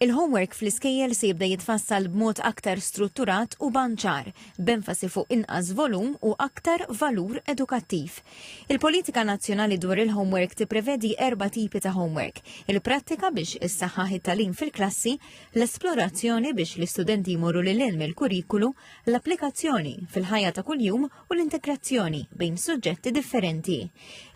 Il-homework fl-iskejjel se jibda jitfassal b'mod aktar strutturat u banċar, b'enfasi fuq inqas volum u aktar valur edukattiv. Il-Politika Nazzjonali dwar il-Homework tipprevedi erba' tipi ta' homework, il-prattika biex issaħħaħ it-tagħlim fil-klassi, l-esplorazzjoni biex l-istudenti jmorru lil hinn mill-kurrikulu, l-applikazzjoni fil-ħajja ta' kuljum u l-integrazzjoni bejn suġġetti differenti.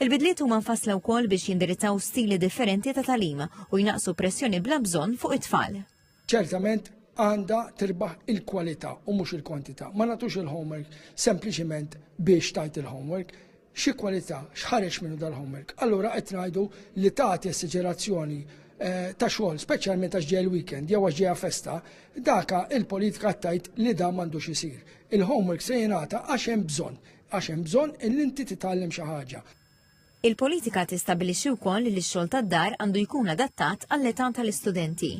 Il-bidliet huma nfassla wkoll biex jindirizzaw stili differenti ta' talim u jnaqsu pressjoni bla bżonn fuq it-tfal. Ċertament għandha tirbaħ il-kwalità u mhux il-kwantità. Ma nagħtux il-homework sempliċiment biex tajt il-homework, xi kwalità x'ħareġ minnu dal-homework. Allura qed ngħidu li tagħti assigerazzjoni eh, ta' xogħol, speċjalment għax ġej il-weekend jew għax ġejja festa, daka il-politika tajt li da m'għandux isir. Il-homework se jingħata għax hemm bżonn, għax hemm bżonn li inti titgħallem xi ħaġa. Il-politika tistabbilixxi wkoll li x-xogħol tad-dar għandu jkun adattat għall-età tal-istudenti.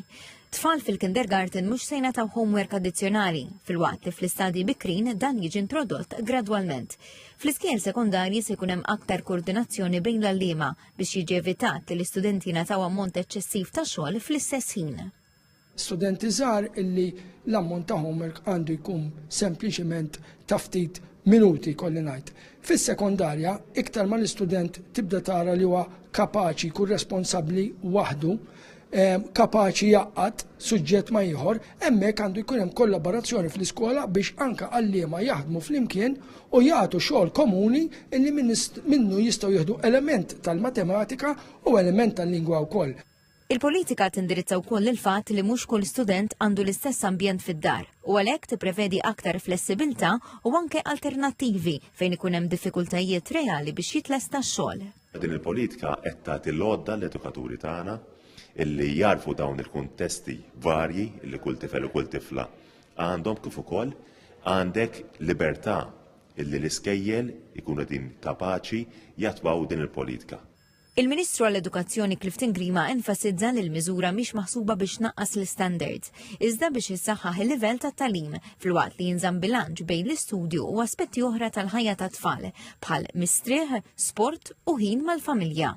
Tfal fil-kindergarten mhux se jingħataw homework addizzjonali, filwaqt li fl-istadji bikrin dan jiġi introdott gradwalment. Fl-iskejjel sekondarji se jkun hemm aktar koordinazzjoni bejn l-għalliema biex jiġi evitat li l-istudenti jingħataw ammont eċċessiv ta' xogħol fl-istess ħin. studenti żgħar illi l-ammont ta' homework għandu jkun sempliċement ta' ftit minuti kolli ngħid. Fis-sekondarja, iktar ma l-istudent tibda tara li huwa kapaċi jkun responsabbli waħdu, ehm, kapaċi jaqgħad suġġett ma' ieħor, hemmhekk għandu jkun hemm kollaborazzjoni fl-iskola biex anke għalliema jaħdmu flimkien u jagħtu xogħol komuni illi minnu jistgħu jieħdu element tal-matematika u element tal-lingwa wkoll. Il-politika tindirizza wkoll il-fatt li mhux kull student għandu l-istess ambjent fid-dar u għalhekk tipprevedi aktar flessibilità u anke alternattivi fejn ikun hemm diffikultajiet reali biex jitlesta x-xogħol. Din il-politika qed tagħti l-għodda l-edukaturi tagħna illi jagħrfu dawn il-kuntesti varji li kull tifel u kull tifla għandhom kif ukoll għandek libertà illi l-iskejjel ikunu din kapaċi jattwaw din il-politika. Il-Ministru għall-Edukazzjoni Clifton Grima enfasizza li l-miżura mhix maħsuba biex tnaqqas l-istandards, iżda biex issaħħaħ il-livell tat-tagħlim, filwaqt li jinżamm bilanċ bejn l-istudju u aspetti oħra tal-ħajja tat-tfal, bħal mistrieħ, sport u ħin mal-familja.